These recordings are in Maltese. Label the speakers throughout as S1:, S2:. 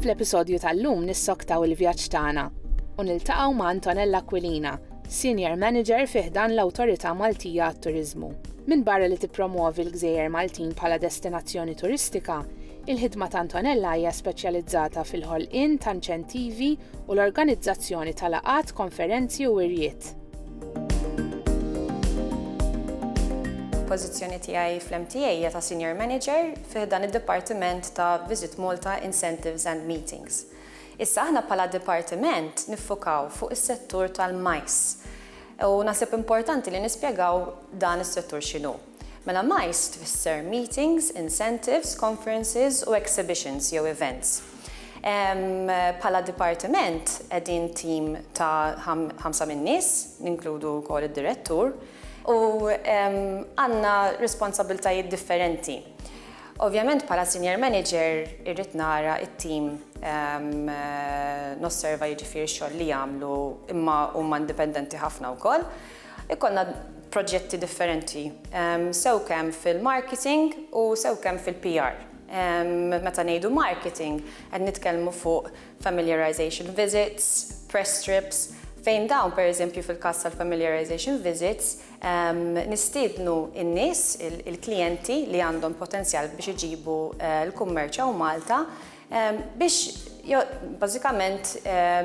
S1: Fl-episodju tal-lum nissoktaw il-vjaġġ tagħna u niltaqgħu ma' Antonella Aquilina, Senior Manager fih dan l-Awtorità Maltija għat-Turiżmu. Minn barra li tippromuovi l-gżejjer Maltin bħala destinazzjoni turistika, Il-ħidma ta' Antonella hija speċjalizzata fil-ħolqien ta' inċentivi u l-organizzazzjoni ta' laqat, konferenzi u wirjiet.
S2: Il-pożizzjoni tiegħi fl-MTA hija ta' Senior Manager fi ħdan id-dipartiment ta' Visit Malta Incentives and Meetings. Issa aħna bħala dipartiment niffukaw fuq is-settur tal-majs u naħseb importanti li nispjegaw dan is-settur x'inhu. Mela MICE tfisser Meetings, Incentives, Conferences u Exhibitions jew Events. Bħala dipartiment qegħdin tim ta' ħamsa min-nies, ninkludu wkoll id-direttur, u għandna responsabbiltajiet differenti. Ovvjament bħala Senior Manager irrid nara t-tim, nosserva jiġifieri x-xogħol li jagħmlu imma huma indipendenti ħafna wkoll. Ikollna proġetti differenti, sew kemm fil-marketing u sew kemm fil-PR. Meta ngħidu marketing, qed nitkellmu fuq familiarization visits, press trips, fejn dawn, per eżempju fil-każ tal-familiarization visits, nistiednu n-nies, il-klijenti li għandhom potenzjal biex iġibu l-kummerċ hawn Malta, biex bażikament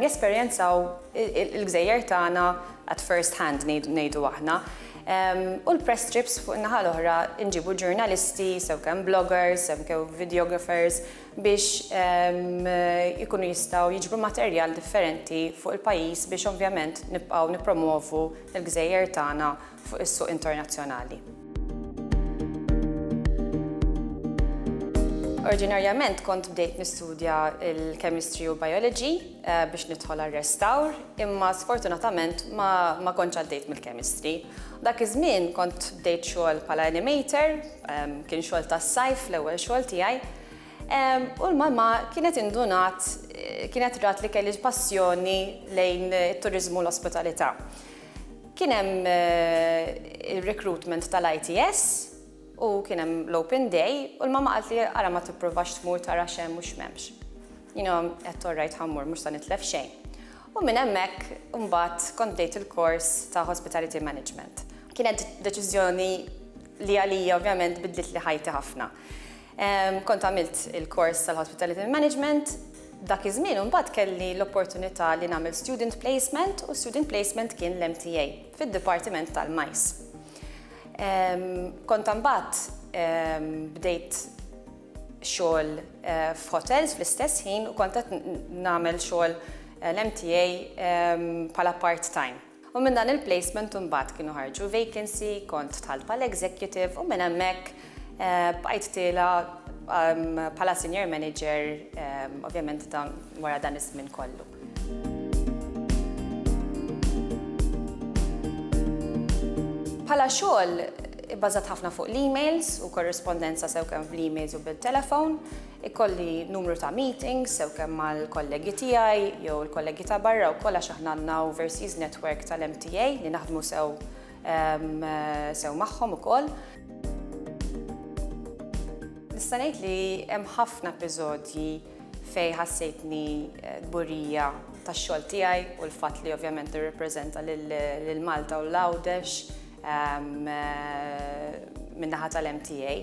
S2: jesperjenzaw il-gżejjer tagħna at first hand ngħidu aħna. U l-press trips fuq in-naħa l-oħra nġibu ġurnalisti, sew kemm bloggers, sew kemm videographers biex ikunu jistgħu jiġbru materjal differenti fuq il-pajjiż biex ovvjament nibqgħu nippromwovu l-gżejjer tagħna fuq is-suq internazzjonali. Oriġinarjament kont bdejt nistudja l-Chemistry u Biology eh, biex nidħol għar-restawr, imma sfortunatament ma kontx għaddejt mill-Chemistry. Dak iż-żmien kont bdejt xogħol bħala animator, ehm, kien xogħol tas-sajf l-ewwel xogħol tiegħi. Ehm, u l-mama kienet indunat, eh, kienet rat li kelli passjoni lejn it-turizmu l-ospitalità. Kien hemm ir-recruitment tal-ITS u kien hemm l-open day u l-mamma qaltli ara ma tipprovax tmur tara x'hemm u x'm'hemmx. Jiena għedt all right ħa mmur mhux se nitlef xejn. U minn hemmhekk imbagħad kont bdejt il-kors ta' Hospitality Management. Kienet deċiżjoni li għalija ovvjament biddlitli ħajti ħafna. Kont għamilt il-kors tal-Hospitality Management. Dak iż-żmien imbagħad kelli l-opportunità li nagħmel student placement u student placement kien l-MTA fid-dipartiment tal-majs. Kont imbagħad bdejt xogħol f'hotels fl-istess ħin u kont qed nagħmel xogħol l-MTA bħala part-time. U minn dan il-placement imbagħad kienu ħarġu vacancy, kont dħalt bħala executive u minn hemmhekk bqajt tiela' bħala senior manager ovvjament dan wara dan iż-żmien kollu. Bħala xogħol ibbażat ħafna fuq l-emails u korrispondenza sew kemm bl-emails u bit-telephone. Ikolli numru ta' meetings, sew kemm mal-kollegi tiegħi jew il-kollegi ta' barra wkoll għax aħna għandna overseas network tal-MTA li naħdmu sew sew magħhom ukoll. Nista' ngħid li hemm ħafna episodji fejn ħassejtni kburija tax-xogħol tiegħi u l-fatt li ovvjament nirrappreżenta lil Malta u l-Għawdex min-naħa tal-MTA.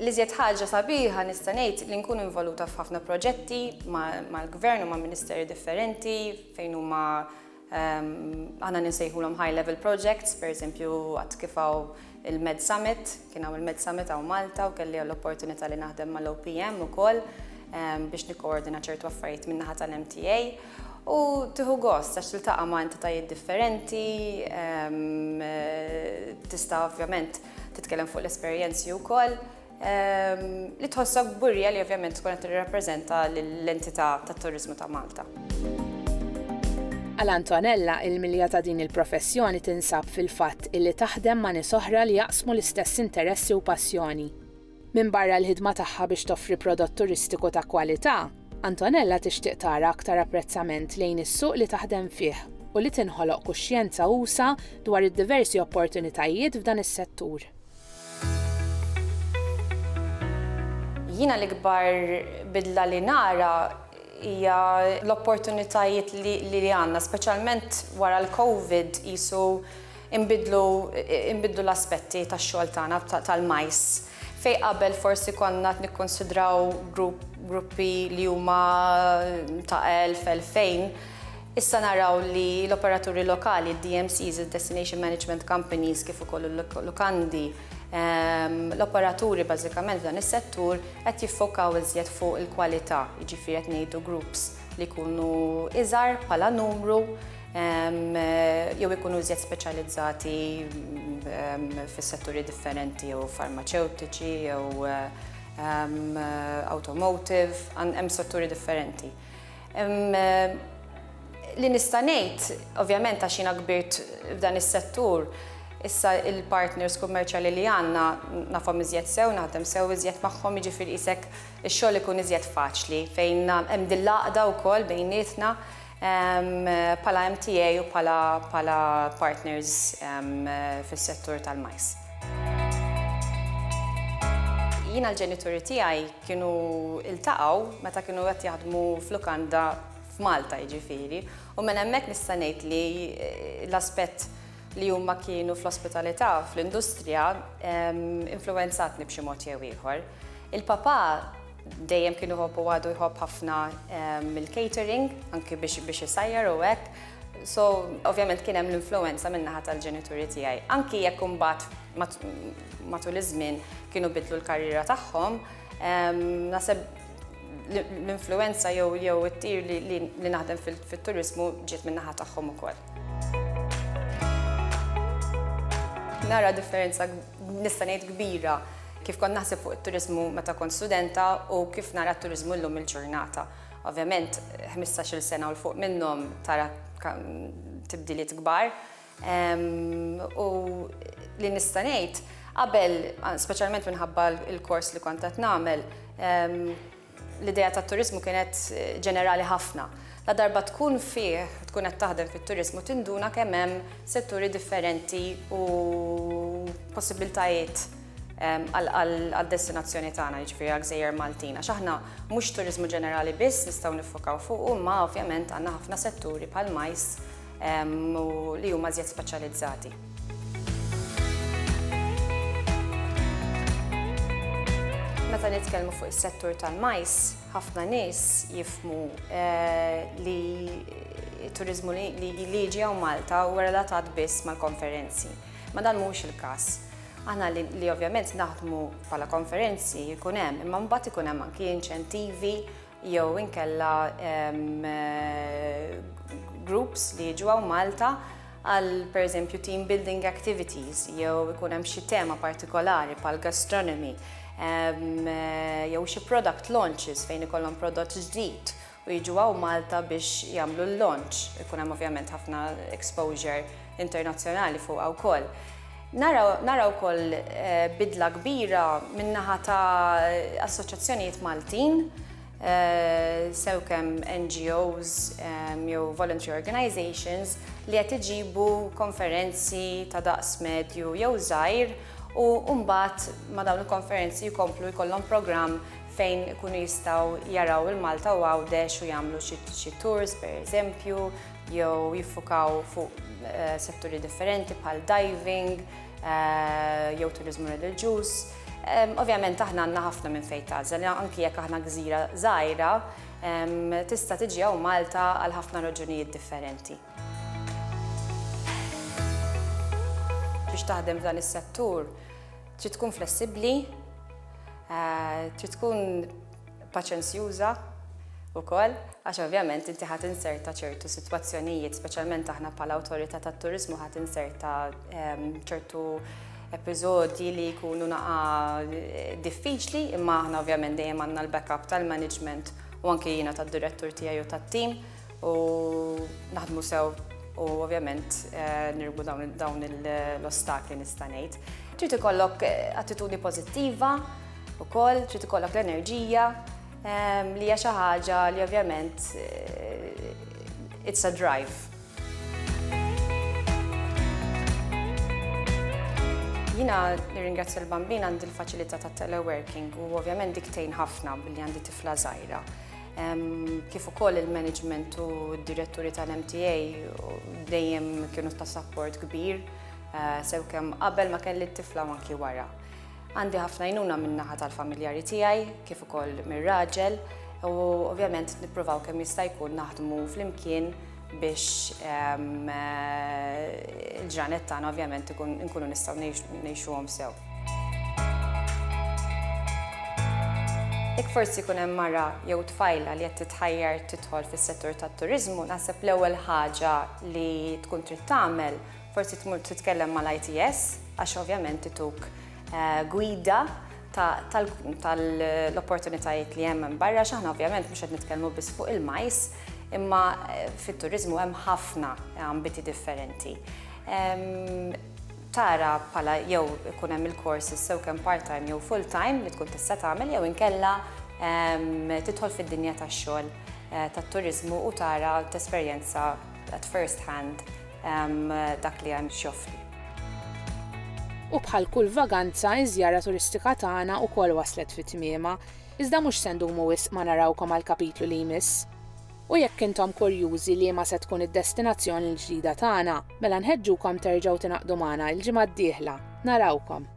S2: L-iżjed ħaġa sabiħa nista' ngħid li nkun involuta f'ħafna proġetti mal-Gvern u ma' Ministeri differenti fejn huma aħna ninsejħulhom high level projects, pereżempju għad kif hawn il-Med Summit, kien hawn il-Med Summit hawn Malta u kelli l-opportunità li naħdem mal-OPM ukoll biex nikkoordina ċertu affarijiet min-naħa tal-MTA u tieħu gost għax tiltaqa' ma' entitajiet differenti, tista' ovvjament Titkellem fuq l-esperjenzi wkoll li tħossok kburija li ovvjament tkun qed tirrappreżenta l-entità tat-turiżmu ta' Malta. Għal
S1: Antonella, il-milja ta' din il-professjoni tinsab fil-fatt illi taħdem ma' nies oħra li jaqsmu l-istess interessi u passjoni. Minbarra l-ħidma tagħha biex toffri prodott turistiku ta' kwalità, Antonella tixtieq tara aktar apprezzament lejn is-suq li taħdem fih u li tinħoloq kuxjenza usa' dwar id-diversi opportunitajiet f'dan is-settur.
S2: Jiena l-ikbar bidla li nara hija l-opportunitajiet li għandna, speċjalment wara l-Covid, qisu Inbidlu inbidlu l-aspetti tax-xogħol tagħna tal-majs. Fejn qabel forsi konna qed nikkunsidraw grupp gruppi li huma ta' elf, elfejn, issa naraw li l-operaturi lokali, id-DMCs, id-Destination Management Companies kif ukoll il-lukandi, l-operaturi bażikament f'dan is-settur qed jiffokaw iżjed fuq il-kwalità, jiġifieri qed ngħidu groups li jkunu iżgħar bħala numru, jew ikunu iżjed speċjalizzati fis-setturi differenti jew farmaċewtiċi jew automotive, hemm setturi differenti. Li nista' ngħid, ovvjament għax jiena kbirt f'dan is-settur, issa l-partners kummerċjali li għandna nafhom iżjed sew, naħdem sew iżjed magħhom, jiġifieri qisek ix-xogħol ikun iżjed faċli fejn hemm din l-għaqda wkoll bejnietna. bħala MTA u bħala partners fis-settur tal-majs. Jiena l-ġenituri tiegħi kienu ltaqgħu meta kienu qed jaħdmu f'lukanda f'Malta jiġifieri u minn hemmhekk nista' ngħid li l-aspett li huma kienu fl-ospitalità fl-industrija influwenzatni b'xi mod jew ieħor. Il-papà Dejjem kien iħobb u għadu jħobb ħafna il-catering, anki biex isajjar u hekk. So, ovvjament kien hemm l-influwenza min-naħa tal-ġenituri tiegħi. Anki jekk imbagħad matul iż-żmien kienu bidlu l-karriera tagħhom, naħseb l-influwenza jew it-tir li naħdem fit-turiżmu ġiet min-naħa tagħhom ukoll. Nara differenza nista' ngħid kbira, kif kont naħseb fuq it-turiżmu meta kont studenta u kif nara t-turiżmu llum il-ġurnata. Ovvjament, ħmistax-il sena u 'l fuq minnhom tara tibdiliet kbar. U li nista' ngħid, qabel, speċjalment minħabba l-kors li kont qed nagħmel, L-idea tat-turiżmu kienet ġenerali ħafna. Ladarba tkun fih, tkun qed taħdem fit-turiżmu tinduna kemm hemm setturi differenti u possibbiltajiet għad-destinazzjoni tagħna, jiġifieri għall-gżejjer Maltin. Għax aħna mhux turiżmu ġenerali biss nistgħu niffokaw fuqu imma ovvjament għandna ħafna setturi bħall-majs, u li huma żjed speċjalizzati. Meta nitkellmu fuq is-settur tal-majs, ħafna nies jifmu eh, li turizmu li liġi għaw Malta u relatat biss mal-konferenzi. Ma dan mhux il-każ. Aħna li ovvjament naħdmu bħala konferenzi jkun hemm, imma mbagħad ikun hemm anki inċentivi jew inkella groups li jiġu hawn Malta għal pereżempju team building activities jew ikun hemm xi tema partikolari bħal gastronomy jew xi product launches fejn ikollhom prodott ġdid u jiġu hawn Malta biex jagħmlu l-launch. Ikun hemm ovvjament ħafna exposure internazzjonali fuqha wkoll. Nara nara wkoll bidla kbira min-naħa ta' assoċjazzjonijiet Maltin, sew kemm NGOs jew voluntary organisations li qed iġibu konferenzi ta' daqs medju jew żgħir u mbagħad ma' dawn il-konferenzi jkomplu jkollhom programm fejn ikunu jistgħu jaraw il-Malta u Għawdex u jagħmlu xi xi tours pereżempju, jew jiffukaw fuq setturi differenti bħal diving jew turizmu reliġjuż. Ovvjament aħna għandna ħafna minn fejn tażel, anki jekk aħna gżira żgħira, tista' tiġi hawn Malta għal ħafna raġunijiet differenti. Biex taħdem f'dan is-settur trid tkun flessibbli, trid tkun paċenzjuża wkoll għax ovvjament inti ħadd inserta ċertu sitwazzjonijiet, speċjalment aħna bħala awtorità tat-turiżmu ħadd inserta ehm, ċertu episodji li jkunu naqa eh, diffiċli, imma aħna ovvjament dejjem għandna l-backup tal-management u anke jiena tad-direttur tiegħi u tat-tim u naħdmu sew u ovvjament eh, nirbu dawn l-ostakli nista' ngħid. Trid ikollok eh, attitudni pożittiva, Ukoll trid ikollok l-enerġija ehm, li hija xi ħaġa li ovvjament eh, it's a drive. Jina nirringrazzja l-bambin għandi l-faċilità ta' teleworking u ovvjament diktejn ħafna billi għandi tifla żgħira. Ehm, kif ukoll il-management u d-diretturi tal-MTA dejjem kienu ta' support kbir eh, sew kemm qabel ma kelli t-tifla manki wara. Għandi ħafna għajnuna min-naħa tal-familjari tiegħi kif ukoll mir-raġel u ovvjament nippruvaw kemm jista' jkun naħdmu flimkien biex ehm, eh, il-ġranet tagħna ovvjament nkunu nistgħu ngħixuhom sew. Jek forsi kun hemm mara jew tfajla li qed titħajjar tidħol fis-settur tat-turiżmu, naħseb l-ewwel ħaġa li tkun trid tagħmel Forsi tmur titkellem mal-ITS għax ovvjament ituk gwida tal-opportunitajiet li hemm hemm barra x'aħna ovvjament mhux qed nitkellmu biss fuq il-majs imma fit-turiżmu hemm ħafna ambiti differenti. Tara bħala jew ikun hemm il-courses sew kemm part-time jew full-time li tkun tista' tagħmel jew inkella tidħol fid-dinja tax-xogħol tat-turiżmu u tara u tesperjenza At first hand dak li hemm x'joffri.
S1: U bħal kull vaganza, iż-żjara turistika tagħna wkoll waslet fi tmiemha. Iżda mhux se ndumu wisq ma narawkom għall-kapitlu li jmiss. U jekk intom kurjużi liema se tkun id-destinazzjoni l-ġdida tagħna, mela nħeġġukom terġgħu tingħaqdu magħna l-ġimgħa d-dieħla. Narawkom!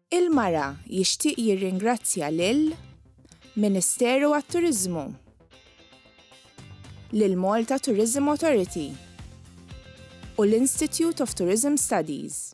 S3: Il-Mara jixtieq jirringrazzja lil Ministeru għat-Turiżmu, lill-Malta Tourism Authority u l-Institute of Tourism Studies.